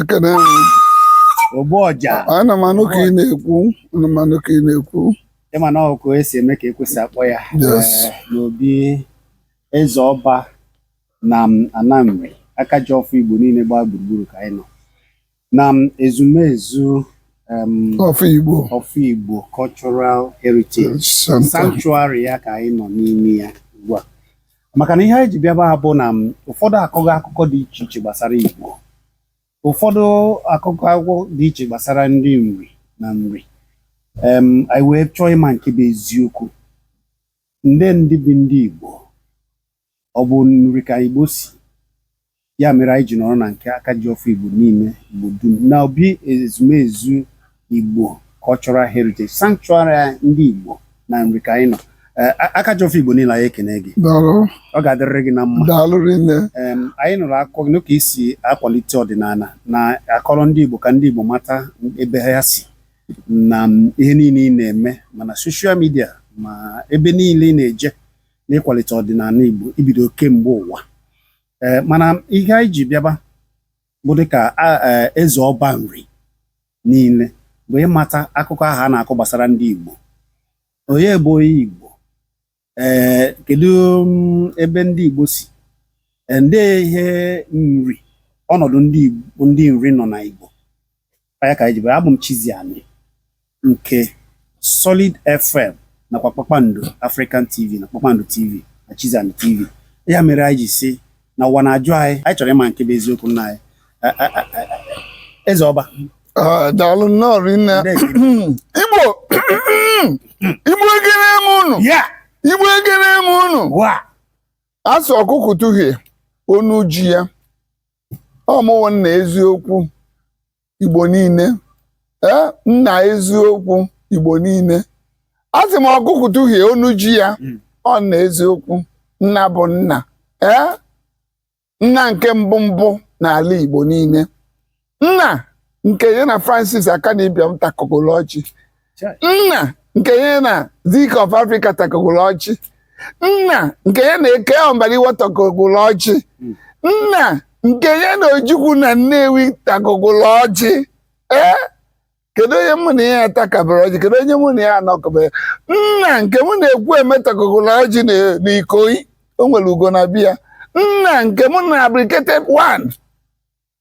ekene m ogbu ọja ana m anụ ka ị na-ekwu ana m anụ ka ị na-ekwu ịma na ọkụ esi eme ka ekwesị akpọ ya Yes. eh, n'obi eze ọba na m- ana nri aka ji ọfọ igbo niile gbaa gburugburu ka anyị nọ na ezumezu um, of Igbo cultural heritage sanctuary ya ka anyị nọ n'ime ya ugbu a maka na ihe anyị ji bịa ebe a bụ na ụfọdụ akụkọ akụkọ dị iche iche gbasara Igbo ụfọdụ akụkọ akụkọ dị iche gbasara ndị nri na nri anyị wee chọọ ịma nke bụ eziokwu ndị ndị bụ ndị Igbo Ọ bụ nri ka Igbo si. Ya mere anyị ji nọrọ na nke aka ji ọfọ Igbo niile Igbo dum na obi ezumezu Igbo Cultural Heritage Sanctuary ndị Igbo na nri ka anyị nọ eh, aka ji ọfọ Igbo niile anyị ekene gị ọ ga-adịrịrị gị na mma anyị nụrụ akụkọ gị ka i si akwalite ọdịnala na-akọrọ ndị Igbo ka ndị Igbo mata ebe ha si na ihe niile ị na-eme ma na social media ma ebe niile ị na-eje na ịkwalite ọdịnala Igbo ibido kemgbe ụwa ee mana ihe anyị ji bịaba bụ dịka e, eze ọba nri niile bụ ịmata akụkọ ahụ a na-akọ gbasara ndị Igbo onye bụ onye Igbo ee kedu mm, ebe ndị Igbo si ndị ihe nri ọnọdụ ndị nri nọ na Igbo ya ka anyị ji bịara abụ m Chiziani nke Solid FM nakwa Kpakpando African TV na Kpakpando TV na Chiziani TV ya mere anyị ji sị na ụwa na-ajụ anyị anyị chọrọ ịma nke bụ eziokwu nna anyị eze ọba ah, daalụ nnọọ rinne igbo igbo ekene m unu igbo ekene m unu a sị ọkụkụ tuhie onu ji ya ọ mụ wụ nna eziokwu igbo niile ee nna eziokwu igbo niile a sị m ọkụkụ tụhie onu ji ya Mm. ọ nna eziokwu nna bụ nna ee nna nke mbụ mbụ n'ala igbo niile nna nke ya na francis akanu ibiam takọgolo ọjị nna nke ya na Zik of Africa takọgoro ọjị nna nke ya na K O mbadiwe takọgoro ọjị hmm. nna nke ya na ojukwu na nnewi takọgoro ọjị ee eh? kedu onye mụ na ya atakọbara ọjị kedu onye mụ na ya anọkọbara nna nke mụ na ekwueme takọgoro ọjị na ikoyi o nwere ugo na biya nna nke mụ na abirikete one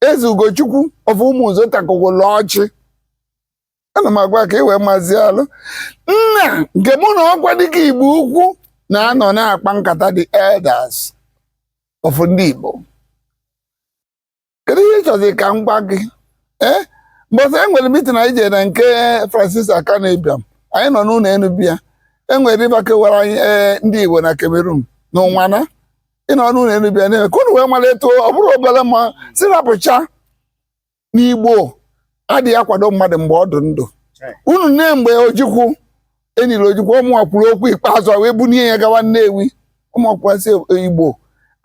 eze ugochukwu of ụmụnze takọgoro ọjị ana m agwa ka ị wee mazi alụ nna nke mụ na okwadike igbo ukwu na-anọ na-akpa nkata the elders of ndị igbo kedu ihe ị chọzi ka m gwa gị ee mbọsị e nwere mitin anyị jere na nke francis akanu ibiam anyị nọ n'ụlọ enu be ya e nwere river kewara anyị ee ndị igbo na cameroon na ụnwana ị nọ n'ụlọ enu be ya na-eme ka unu wee mara etu ọ bụrụ obere mma si rapụcha n'igbo adịghị akwado mmadụ mgbe ọ dị ndụ unu nee mgbe ojukwu e niri ojukwu ọ mụnwa kwuru okwu ikpeazụ a wee bunie ya gawa nnewi ọ mụnwa kwa sị igbo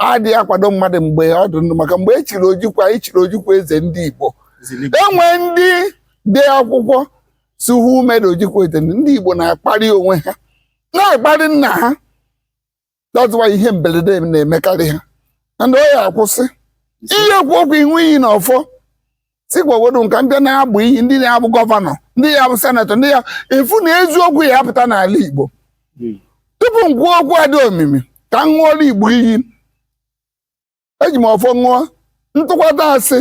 adịghị akwado mmadụ mgbe ọ dị ndụ maka mgbe e chiri ojukwu anyị chiri ojukwu eze ndị igbo e nwee ndị dee akwụkwọ sị who made ojukwu eze ndị igbo na-akparị onwe ha na-akparị nna ha that's why ihe mberede na-emekarị ha and ọ ya-akwụsị ị ya-ekwu okwu ị ṅụọ iyi na ọfọ sikwawodo nka ndị na-abụ iyi ndị na-abụ gọvanọ ndị ya-abụ senetọ ndị ya-afụ na eziokwu ya-apụta n'ala Igbo tupu m kwuo okwu a dị omimi ka m ṅụọla Igbo iyi eji m ọfọ ṅụọ m tụkwata asị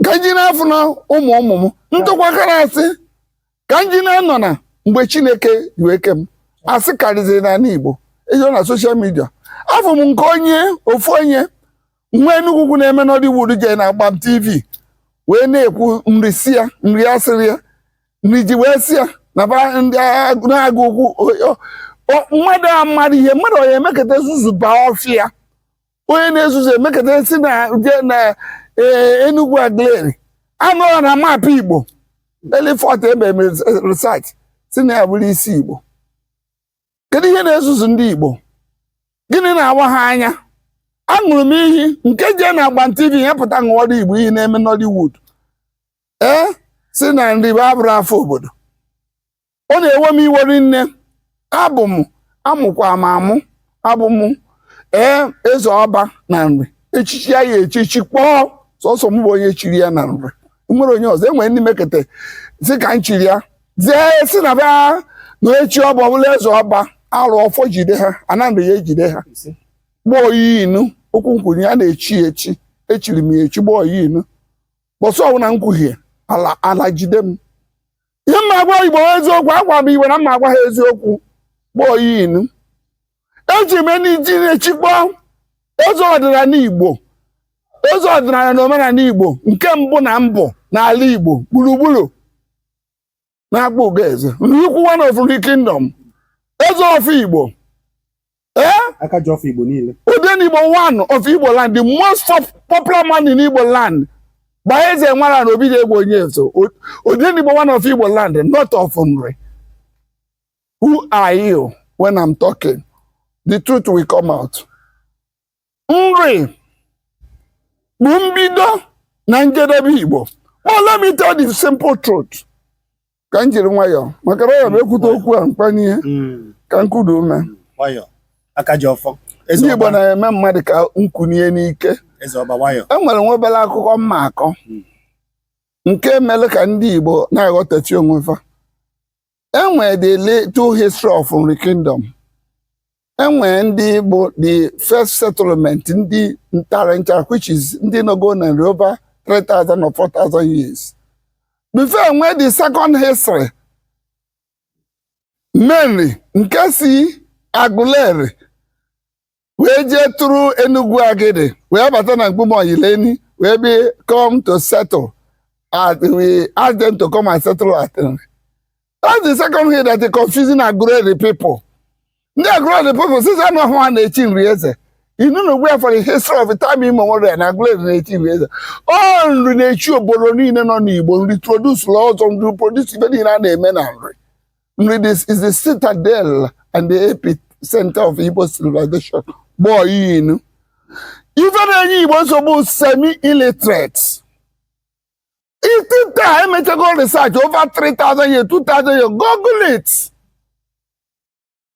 ka m jina afụna ụmụ ụmụ m m tụkwakara asị ka m jina anọna mgbe chineke ji wee kee m asị karịziri n'ala igbo e jee na soshal midia afụ m nke onye ofu onye nwa enugwu ukwu na-eme nollywood jee na agbam tv wee na-ekwu nri si ya nri asịrị ya nri ji wee si ya na ba ndị agụ- na-agụ okwu o- o- o- mmadụ amarọ ihe mmadụ onye emekata zuzubaa ọfịa onye na-ezuzu emekata si na je na eh, Enugu Aguleri anọrọ na maapụ Igbo elifọt ebe mere research si na ya abụrọ isi Igbo kedu ihe na-ezuzu ndị Igbo gịnị na-awa ha anya aṅụrụ m iyi nke jee na agbam TV ya pụta ṅụọrọ Igbo iyi na-eme Nollywood ee si na nri bụ abụrọ afa obodo ọ na-ewe m iwe rinne abụ m a mụkwa m amụ abụ m ee eze ọba na nri echichi ya ya echichi kpọọ sọsọ m bụ onye chiri ya na nri nwerọ onye ọzọ e nwere ndị mekata si ka m chiri ya zee sị na ba na-echi ọba ọbụla eze ọba arụ ọfọ jide ha ana nri ya-ejide ha gbaa oyi inu okwu nkwunye ya na-echi ya echi echiri m ya echi gbaa oyi inu mbọsị ọbụla m kwuhie ala ala jide m ihe m ma-agwa igbo eziokwu agwa m igbo na m ma-agwa ha eziokwu gbaa oyi inu eji m ndị na-echikpọ eze ọdịnala igbo eze ọdịnala na omenala igbo nke mbụ na mbụ n'ala igbo gburugburu na-akpọ ugo eze nrikwu one of nri kingdom eze ọfọ igbo aka ji ọfọ Igbo niile Odenigbo one of Igbo land the most popular man in Igbo land gbaa eze nwara na obi ga-egbo onye nso Odenigbo one of Igbo land not of Nri who are you when I'm talking the truth will come out nri bụ mbido na njedebe igbo ma let me tell the simple truth ka m jiri nwayọọ maka na ya bụ ekwute okwu a mkpanye ihe Mm, ka m kuda ume nwayọ aka ji ọfọ ndị igbo na-eme mmadụ ka nkunie n'ike eze ọba nwayọ e nwere nwa obere akụkọ m ma-akọ nke mere ka ndị igbo na-aghọtachi onwe fa enwere the little history of Nri Kingdom enwere ndị bụ the first settlement ndị ntara nchara which is ndị nọgo na nri over 3000 or 4000 years before enwe the second history Menri nke si Aguleri wee jee tụrụ Enugwu Agidi wee bata na Mkpume Onyilenyi wee bi come to settle at we ask them to come and settle at that's the second thing that is confusing Aguleri people ndị Aguleri people sịzi na ọ bụ ha na-echi nri eze inu na ugbu a for the history of time immemorial na Aguleri na-echi nri eze ọ nri na-echi obodo niile nọ n'Igbo nri produce-lụ ọzọ nri produce ife niile a na-eme na nri Nri this is the citadel and the epicenter of Igbo civilization gbọọ inu ife na-enye Igbo nsogbu semi illiterate itite a emechago research over 3000 years 2000 years google it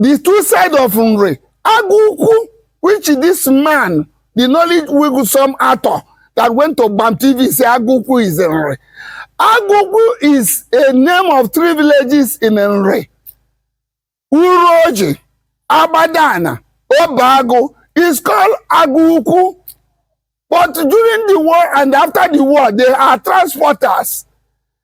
the two side of nri agụ ukwu which this man the nollywood some actor that went to bam tv say agụ ukwu is nri agụ ukwu is a name of three villages in nri uruoji agbadana obeagụ is called agụ ukwu but during the war and after the war they are transporters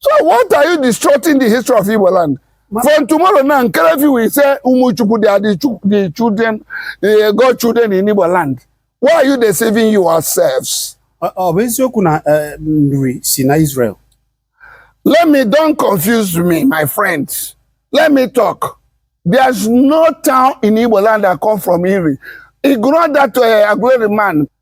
so what are you distorting the history of Igbo land from tomorrow now Nkerefi will say Umuchukwu they are the, chu- the children the God children in Igbo land why are you deceiving yourselves Ọ ọ bụ eziokwu na eh, nri si na Israel? let me don't confuse me my friend let me talk there's no town in Igbo land that come from Iri ignore that uh, Aguleri man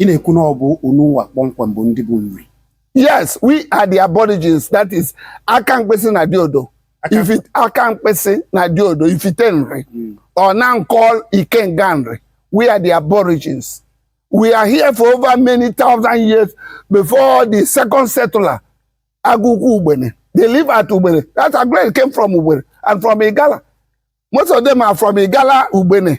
ị na-ekwu na ọ bụ unu nwa kpọmkwem bụ ndị bụ nri yes we are the aborigines that is aka mkpịsị na diodo aka mkpịsị na diodo ifite nri hmm. or now call ikenga nri we are the aborigines we are here for over many thousand years before the second settler agụkwu ugbene they live at ugbene that agreement came from ugbene and from igala most of them are from igala ugbene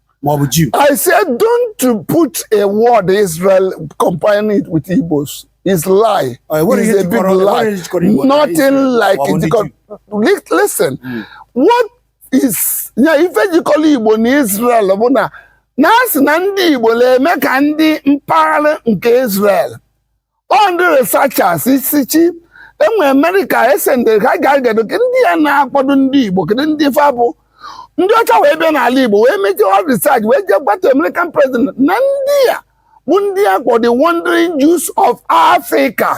ma ọ bụ Jew. I said don't put a word Israel comparing it with Igbos. It's lie. Uh, what it's a big lie. Nothing like it. Listen, mm. what is yeah, ife jikọlụ Igbo na Israel bụ na a na-asị na ndị Igbo na-eme ka ndị mpaghara nke Israel ọ ndị researchers isichei e nwee amerịka esendị ha ga get kedu ndị a na-akpọdụ ndị igbo kedu ndị fa bụ ndị ọcha wee bịa n'ala igbo wee make all research wee jee gwa the american president na ndị a bụ ndị a kpọ the wandering jews of africa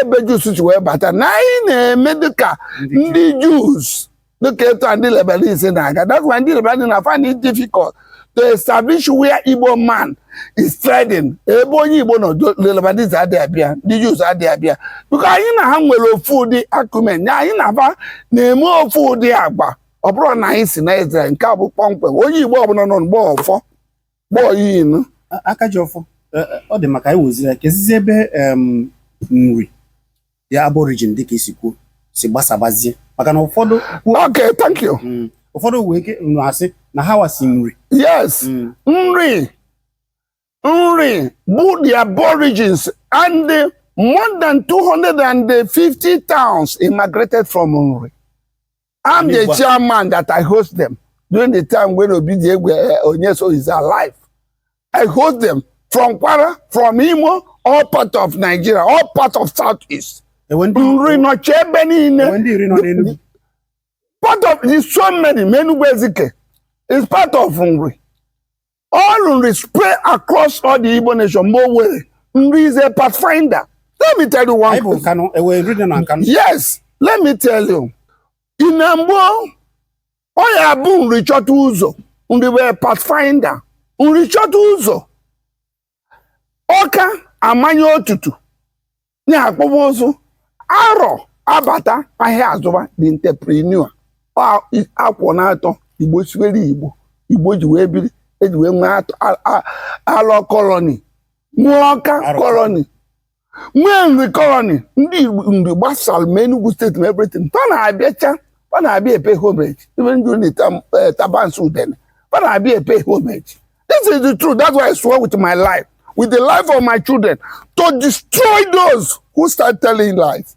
ebe jews si wee bata na anyị na-eme dịka ndị jews dịka etu a ndị Lebanese na-aga that's why ndị Lebanese na find it difficult to establish where Igbo man is trading ebe onye Igbo nọ Lebanese adịghị abịa ndị Jews adịghị abịa because anyị na ha nwere ofu ụdị acumen anyị na fa na-eme ofu ụdị agba ọ bụrụ na anyị si na Israel nke a bụ kpọmkwem onye Igbo ọbụla nọ mgbe ọfọ gbọọ inu Akajiọfọ ọ dị mma ka anyị woziri ya kezizi ebe Nri ya aborigine dịka i si kwuo si gbasabazie maka na ụfọdụ okay thank you mm, ụfọdụ nwee ike nụ asị na hawa si Nri yes mm. Nri Nri bụ the aborigines and the more than 250 towns immigrated from Nri I'm the chairman that I host them during the time when Obi Diegwe eh, Onyeso is alive. I host them from Kwara, from Imo, all part of Nigeria, all part of Southeast. Eh, nri nọchi ebe niile. Eh, part of the so many Menugwu Ezike is part of Nri. All Nri spread across all the Igbo nation mgbe o were Nri is a pathfinder. Let me tell you one Anyị bụ thing. Nkanụ, e nwee Nri dị na Nkanụ. Yes, let me tell you. Ị na mgbe ọ ya bụ Nri chọta ụzọ Nri were pathfinder Nri chọta ụzọ ọka amanye otutu ya akpụba ụzụ arọ abata ahịa azụba the entrepreneur akwọ na atọ igbo siwere igbo igbo ji wee biri e ji wee nwee alọ kọlọni nwee ọka kọlọni nwee Nri kọlọni ndị Igbo Nri gbasara ma Enugu steeti ma everything fa na-abịacha fa na-abịa e pay homage even during Tabansi Udene fa na-abịa e pay homage this is the truth that's why I swear with my life with the life of my children to destroy those who start telling lies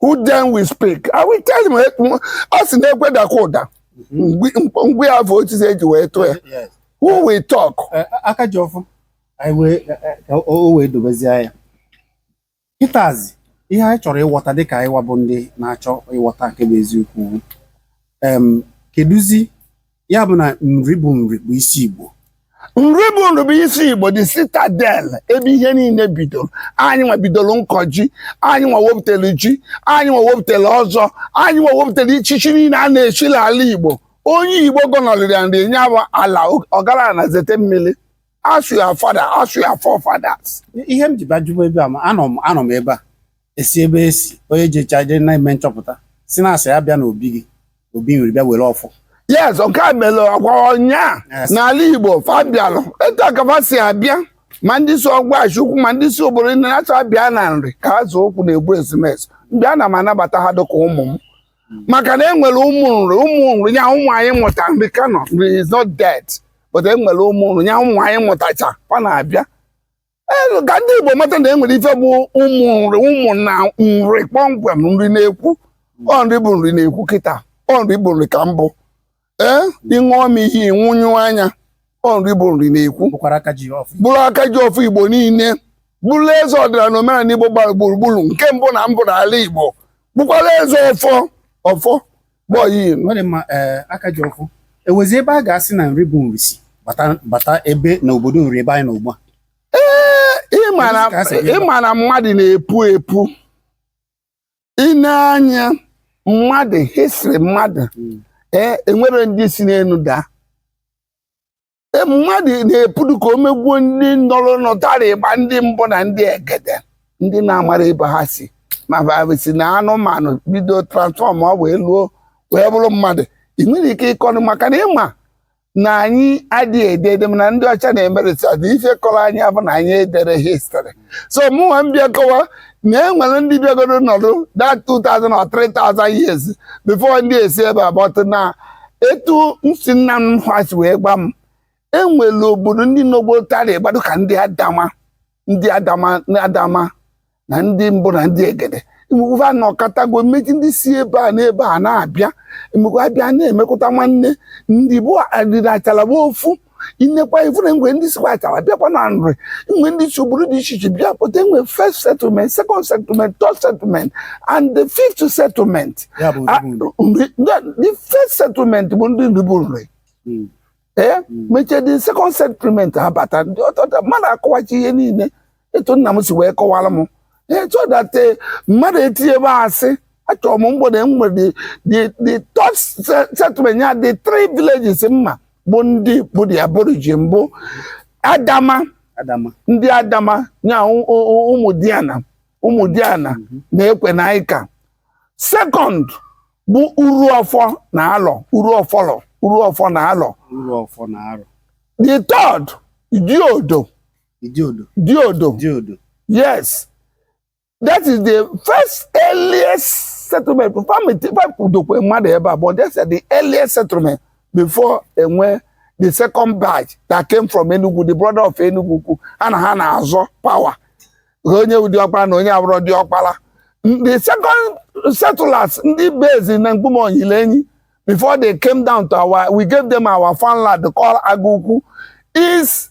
who then will speak I will tell him eh, ọ sị na-ekwedakwa ụda ngwe ya bụ otu e ji wee tụọ ya who will talk eh, Akajiọfọ eh, o wee dobezie ya kịtazi ihe anyị chọrọ ịghọta dịka anyị wabụ ndị na-achọ ịghọta nke bụ eziokwu kedụzi ya bụ na Nri bụ Nri bụ isi Igbo Nri bụ Nri bụ isi Igbo the citadel ebe ihe niile bidoro anyị nwa bidoro nkọ ji anyị nwa wepụtara ji anyị nwa wepụtara ọzọ anyị nwa wepụtara ichichi niile a na-echi n'ala Igbo onye Igbo gọnọrịrị ya Nri nya bụ ala ọgara na zete mmiri ask your father ask your forefathers ihe m ji bajụba ebe a ma anọ m anọ m ebe a e si ebe e si onye jecha je na-eme nchọpụta sị na a sị ya bịa n'obi gị obi nri bịa were ọfọ yes nke a mere ọkwa ọnya Yes. n'ala igbo fa bịalụ etu a ka fa si abịa ma ndị si ọgwashi ukwu ma ndị si obodo ndị na-achọ abịa na nri ka ha zụ okwu na-egbu ezumezu mgbe ana m anabata ha dịka ụmụ m maka na enwere ụmụ nri ụmụ nri ya ụmụ anyị mụta nri ka nọ nri is not dead but enwere ụmụ nri ya ụmụ anyị mụtacha fa na-abịa Ee, ka ndị Igbo mata na e nwere ife bụ ụmụ nri ụmụ na nri kpọmkwem nri na-ekwu ọ nri bụ nri na-ekwu kịta ọ nri bụ nri ka mbụ ee ịṅụọ m ihe ịnwụnyụ anya ọ nri bụ nri na-ekwu bụrụ aka ji ọfọ Igbo niile bụrụ eze ọdịnala na omenala Igbo gbara gburugburu nke mbụ na mbụ n'ala Igbo bụkwara eze ọfọ ọfọ aka ji ọfọ enwezi ebe a ga-asị na nri bụ nri si bata ebe na obodo nri ebe anyị nọ ugbu a ị ma na mmadụ na-epu epu ị nee anya mmadụ history mmadụ hmm. ee enwere ndị si n'elu daa E, mmadụ na-epudu ka o megwuo ndị nọrọ nọtara ịgba ndị mbụ na ndị egede ndị na-amara ebe ha si ma si na anụmanụ bido transform ọ wee luo wee bụrụ mmadụ ị nwere ike ịkọnụ maka na ịma na anyị adịghị ede ede na ndị ọcha na-eme research na ife kọrọ anyị abụ na anyị edere history so mụnwa m bịa kọwa na e nwere ndị bịagoro nọdụ that 2000 or 3000 years before ndị esi ebe a but na etu nsi nna m ha si wee gwa m e nwere obodo ndị nọ gboo tara ịgba dịka ndị adama ndị adama na ndị mbụ na ndị egede emekwa na ọkatago mechie ndị si ebe a n'ebe a na-abịa emekwa abịa na-emekọta nwanne ndị bi na achala bụ ofu ị nekwa ị fụ na enwe ndị sikwa achala bịakwa na nri enwe ndị si obodo dị iche iche bịa pụta enwe first settlement second settlement third settlement and the fifth settlement Ya bụ Ah, ndị bulu. nri- the- the first settlement bụ ndị nri bụ nri Mm. ee mechie the second settlement abata ndị ọtọta mmadụ akọwachi ihe niile etu nna m si wee kọwara m so that eh, mmadụ etinye ebe asị achọrọ m mgbede enwere the third settlement ya the three villages mma bụ ndị bụ the aborigine bụ adama ndị adama nya ụmụ diana ụmụ diana mhm. na ekwe na ịka second bụ uru ọfọ na alọ uru ọfọlọ uru ọfọ na alọ the third diodo Diodo. Diodo. Diodo. Yes. That is the first earliest settlement. Famidokwe mmadụ ebe a but that's the earliest settlement before e nwee the second batch that came from Enugwu, the brother of Enugwu, and ha na-azọ power. Onye bụ diọkpara na onye abụrọ diọkpara. The second settlers ndị base na Mkpume Onyilenyi before they came down to our we gave them our farmland called Agụkwu is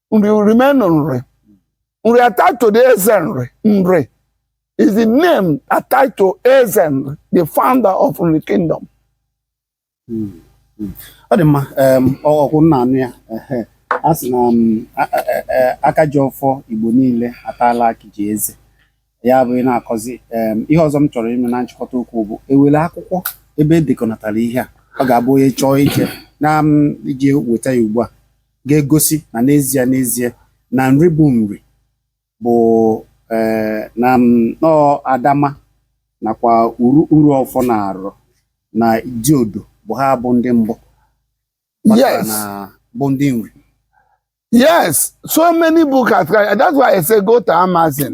nri remain nri nri attached to the eze nri nri is the name attached to eze nri the founder of nri kingdom ọ dị mma em, ọ- ọ kwa unu na-anụ ya ehe. a sị na m, a- a- a- a- aka ji ọfọ igbo niile ataala akị ji eze ya bụ ị na-akọzi em, ihe ọzọ m chọrọ ime na nchịkọta okwu bụ e nwere akwụkwọ ebe e dekọnatara ihe a ọ ga-abụ onye chọọ ije na m ije weta ya ugbu a ga-egosi na n'ezie n'ezie na nri bụ nri bụ eh, na nnọọ adama nakwa uru uru ọfọ na alọ na diodo bụ ha bụ ndị mbụ yes bụ ndị nri yes so many books are that's why i say go to amazon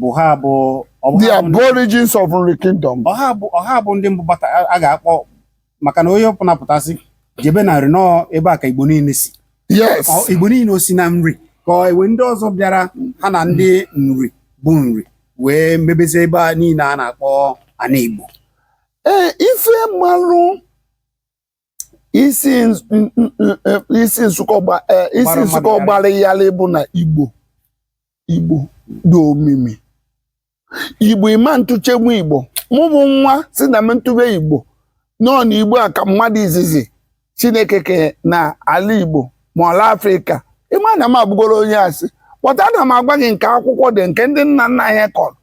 bụ ha bụ ọ bụ the ha bụ ndị- aborigines of Nri Kingdom. ọ ha bụ ọ ha bụ ndị mbụ bata a- a ga-akpọ maka na onye ọ bụna pụta sị jebe na nri na ọ ọ ebe a ka igbo niile si Yes. Ọ- igbo niile o si na nri ka ọ e nwe ndị ọzọ bịara ha na ndị nri bụ nri wee mebezie ebe a niile a na-akpọ ana igbo Ee, ife m malụ isi nsụkọ gbara ya bụ na igbo igbo dị omimi igbo ịma ntụchegbu igbo mụ bụ nwa sị na m ntụbe igbo nọ na igbo a ka mmadụ izizi chineke ke na ala igbo ma ala afrịka ị ma na m abụgoro onye asị but a na m agwa gị nke akwụkwọ dee nke ndị nna nna anyị kọrọ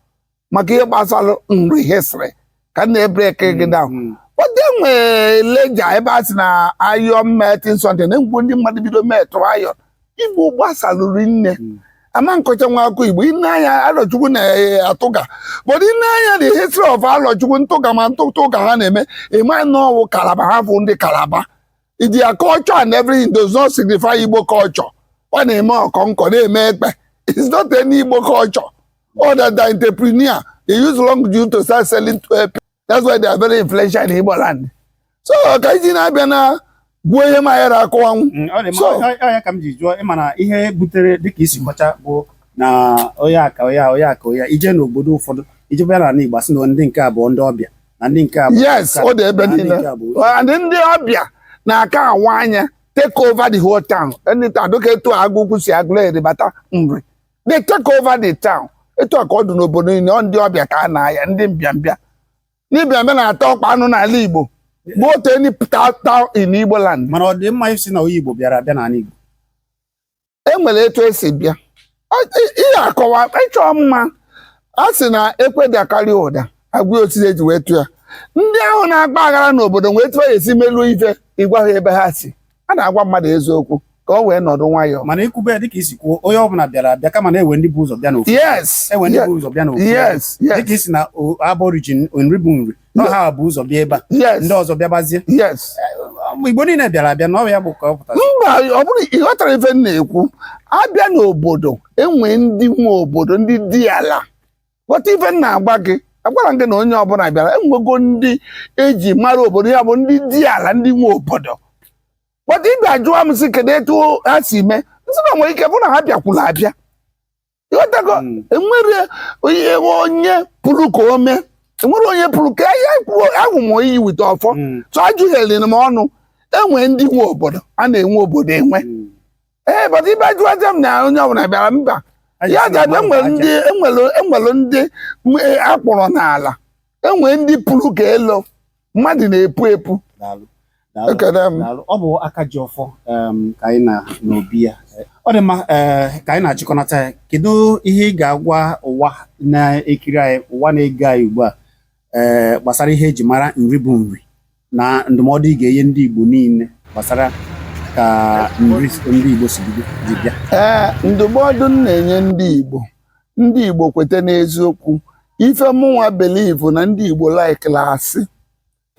maka ihe gbasara nri history ka m na-ebreki gị down Mm. but e nwere lejja ebe a sị na iron melting centre na ngwu ndị mmadụ bido melt iron igbo gbasalụ rinne Mm. ama akọchanwu akụkọ igbo i nee anya arọchukwu na-atụga but i nee anya na history of arọchukwu ntụga ma ntụtụ ụka ha na-eme ị ma na ọ wụ kalaba ha bụ ndị kalaba their culture and everything does not signify igbo culture ọ na-eme ọkọnkọ na-eme ekpe it's not any igbo culture Other than entrepreneur, they use long juju to start selling to uh, That's why they are very influential in Igbo land. So ka iji na-abịa na gwuo ihe ma ya akọwanwu. Mm, ọ dị So- mma ọ- ọ ya ka m ji jụọ ịma na ihe butere dịka isi kọcha bụ na onye aka onye a, onye aka onye a. ije n'obodo ụfọdụ ijebe ya n'ala Igbo asị na ndị nke a bụ ndị ọbịa na ndị nke a bụ Yes, ọ dị ebe na ndị niile. nke a bụ And ndị ọbịa na-aka awa anya take over the whole town. Anytime dịka etu Agụkwu si Agụleri bata Nri. they take over the town etu a ka ọ dị n'obodo niile ọ ndị ọbịa ka a na-aya ndị mbịambịa ndị mbịambịa na-ata ọkpa anụ n'ala Igbo go to any town in Igbo land mana ọ dị mma ị sị na onye Igbo bịara abịa n'ala Igbo e nwere etu esi bịa ihe akọwa ịchọ mma a sị na ekwe dakarị ụda agwa osisi eji wee tụọ ya ndị ahụ na-agba aghara n'obodo wee tụọ ya esi melu ife ịgwa ha ebe ha si a na-agwa mmadụ eziokwu ka o wee nọdụ nwayọọ mana ikwube dịka isi kwuo onye ọbụla bịara abịa kama na enwe ndị bu ụzọ bịa n'ofu yes enwe ndị bu ụzọ bịa n'ofu yes yes dịka isi na aborigine Nri bụ Nri na ọ ha bu ụzọ bịa ebe a yes ndị ọzọ bịabazie yes igbo niile bịara abịa na ọ ya bụ ka ọ pụtara mba ọ bụrụ ị ghọtara ife m na-ekwu abịa n'obodo enwe ndị nwe obodo ndị diala ghọta ife m na-agwa gị agwara m gị na onye ọbụla bịara enwego ndị eji mara obodo ya bụ ndị diala ndị nwe obodo but ị bịa ajụwa m sị kedu etu ha si mee m sị na nwere ike bụ na ha bịakwuru abịa ịghọtago Mm. enwere onye onye puru ka ome enwere onye puru ka ya kwuo ahụ m oyi wite ọfọ Mm. so ajụghịrị m ọnụ enwe ndị nwe obodo a na-enwe obodo enwe Mm. ee but ị bịa jụwazie m na onye ọbụla bịara mba ya ga abịa enwere ndị enwere enwere ndị m- e, akpọrọ n'ala enwere ndị puru ka elo mmadụ na-epu epu Daalụ. Daalụ. ekele m Daalụ. ọ bụ Akajiọfọ em, ka anyị nọ n'obi ya ọ dị mma eh, ka anyị na-achịkọnata ya kedu ihe ị ga-agwa ụwa na-ekiri anyị ụwa na-ege anyị ugbu a eh, gbasara ihe eji mara Nri bụ Nri na ndụmọdụ ị ga-enye ndị Igbo niile gbasara ka Nri ndị Igbo si bido ji bịa ee ndụmọdụ m na-enye ndị Igbo ndị Igbo kweta n'eziokwu ife mụnwa believe na ndị Igbo likelu asị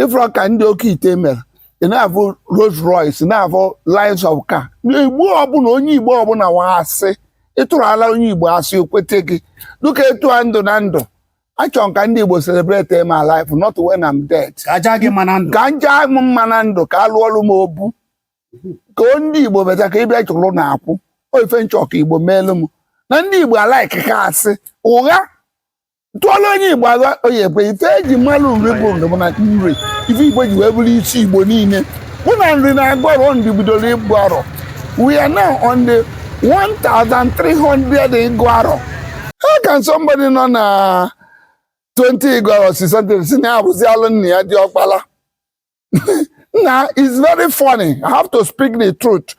ịfụrọ ka ndị oke ite mere ị na-afụ Rolls Royce na-afụ lines of car Igbo ọbụla onye Igbo ọbụla wa asị ịtụrụ ala onye Igbo asị o kweta gị dịka etu a ndụ na ndụ achọrọ m ka ndị Igbo celebrate my life not when I'm dead ka aja gị mma na ndụ ka nja m mma na ndụ ka alụọlụ m obu ka o ndị Igbo beta ka ịbịa chụrụ na akwụ ọ ife m chọ ka Igbo meelu m na ndị Igbo alikeka asị ụgha tụọla onye Igbo ụgha ọ ya-ekwe ife eji malụ Nri bụ Nri bụ na Nri ife Igbo ji wee bụrụ isi Igbo niile bụ na Nri na-agụ arọ ndị bidoro ịgụ arọ We are now on the 1,300 Iguaro. How can somebody nọ na 20 Iguaro si something si na ya abụzialụ nna ya diọkpala? Nna, it's very funny. I have to speak the truth.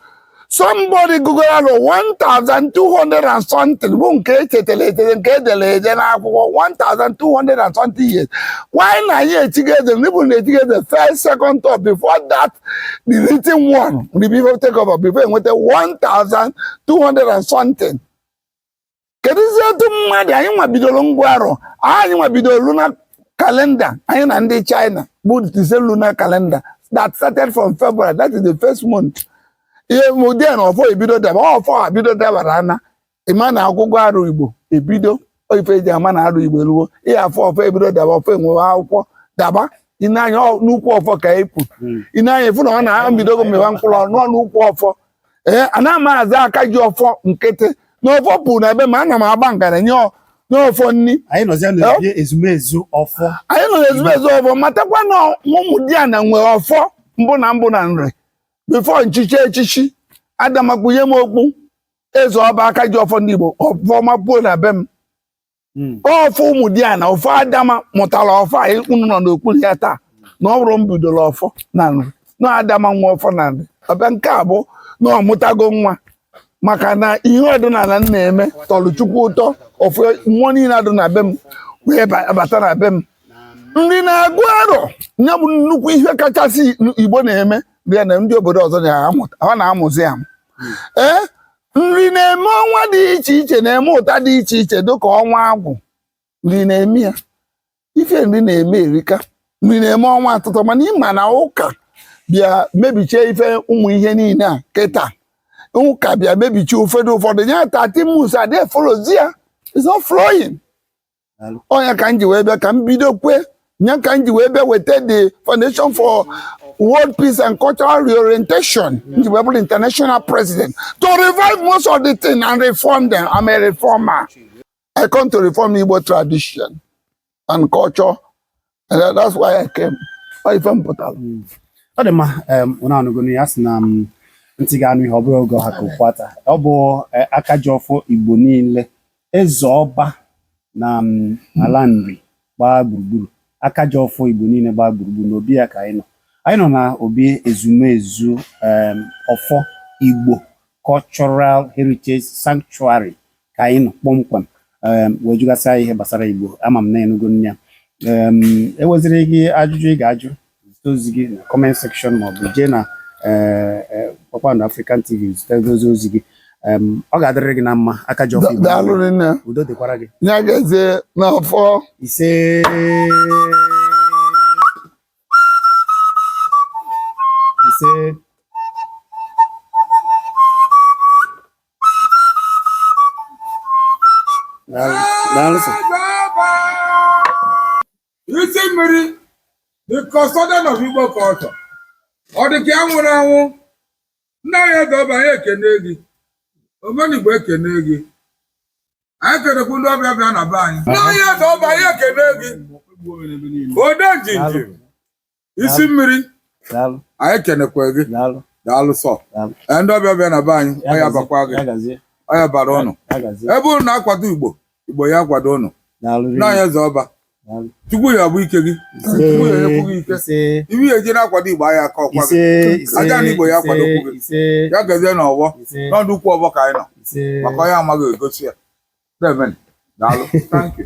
Somebody gụrụ arọ 1,200 and something bụ nke e chetara echeta nke e dere ede n'akwụkwọ 1,200 and something years. Why na ya etiga eze? Ndị bụ na etiga eze first, second, third before that the written one mgbe before take over before enweta 1200 and something kedụzi etu mmadụ anyị nwa bidoro ịgụ arọ anyị nwa bidoro lunar calendar anyị na ndị China bụ the same lunar calendar that started from February that is the first month ihe mụdị na ọfọ ebido daba ọfọ ebido dabara ana ịma na ọgụgụ arọ igbo ebido ife eji ama na arọ igbo eruwo ịya afọ ọfọ ebido daba ọfọ enwewe akwụkwọ daba i nee anya n'ukwu ọfọ ka ị pụ i nee anya ị fụ na ọ nwa ebidogo mịwa mkpụrụ ọnụ n'ukwu ọfọ ee ana m aza aka ji ọfọ nkịtị na ọfọ puru na be m a ana m agba ngara nye ọ- nye ọfọ nri anyị nọzia n'obi ezumezu ọfọ anyị nọ n'ezumezu ọfọ matakwa na ụmụdiana nwere ọfọ mbụ na mbụ na nri before m chie echichi adama kpunye m okpu eze ọba aka ji ọfọ ndị Igbo ọfọ ọma puo na be m hmm. ọfọ ụmụdiana ọfọ adama mụtara ọfọ a unu nọ n'okpuru ya taa na ọ bụrọ m bidoro ọfọ na nri na adama nwe ọfọ na nri ọbịa nke a bụ na ọ mụtago nwa maka na ihe ọdịnala m na-eme tọrọ chukwu ụtọ ọfọ mmụọ niile adụ na be m wee bata na be m nri na-agụ arọ ya bụ nnukwu ihe kachasị igbo na-eme bịa na ndị obodo ọzọ na-amụzi ya ee nri na-eme ọnwa dị iche iche na-eme ụta dị iche iche dịka ọnwa agwụ nri na-eme ya ife nri na-eme erika nri na-eme ọnwa asatọ mana ị ma na ụka bịa mebichie ife ụmụ ihe niile a kịta ụka bịa mebichie ụfọdụ ụfọdụ ya 13 months adị efollowzi ya it's not flowing ọ nya ka m ji wee bịa ka m bido kwe nya ka m ji wee bịa weta the foundation for world peace and cultural reorientation m ji wee bụrụ international president to revive most of the thing and reform them i'm a reformer i come to reform igbo tradition and culture And that- that's why I came. Ọ ife m pụtara. ọ dị mma em, unu anụgo na a sị na ntị ga-anụ ihe ọ bụrọ oge ọ ha ka okpu ata ọ bụ eh, aka ji ọfọ igbo niile eze ọba na em, ala nri gbaa gburugburu aka ji ọfọ igbo niile gbaa gburugburu n'obi ya ka anyị nọ anyị nọ na obi ezumezu em, ọfọ igbo cultural heritage sanctuary ka anyị nọ kpọmkwem um, wee jụgasịa ya ihe gbasara Igbo ama m na ị nụgo nya um, enweziri gị ajụjụ ị ga-ajụ zite ozi gị na comment section maọbụ jee na eh, eh, Kpakpando African TV zite ozi ozi gị Um, ọ ga-adịrị gị na mma aka ji ọfọ Da- Igbo daalụ rinne udo dịkwara gị ya gazie n'afọ ise ise isi mmiri the custodian of Igbo culture ọ dị ka ya nwụrụ anwụ nna anyị Ezeọba anyị ekene gị omenigbo ekene gị anyị kenekwu ndị ọbịa bịa na be anyị nna anyị Ezeọba anyị ekene gị ode njinji isi mmiri anyị kenekwa gị daalụ sọ ee ndị ọbịa bịa na be anyị ọ ya-abakwa gị ọ ya-abara ụnụ ebe ụnụ na-akwado igbo igbo ya-akwado ụnụ nna anyị Ezeọba chukwu ya-abụ ike gị chukwu ya-enyekwu gị ike ị ya-eji na-akwado igbo anyị aka ọkwa gị aja ana igbo ya-akwadokwu gị ya gazie na ọgbọ n'ọdụ ukwu ọgbọ ka anyị nọ maka onye amaghị e gosi ya daalụ thank you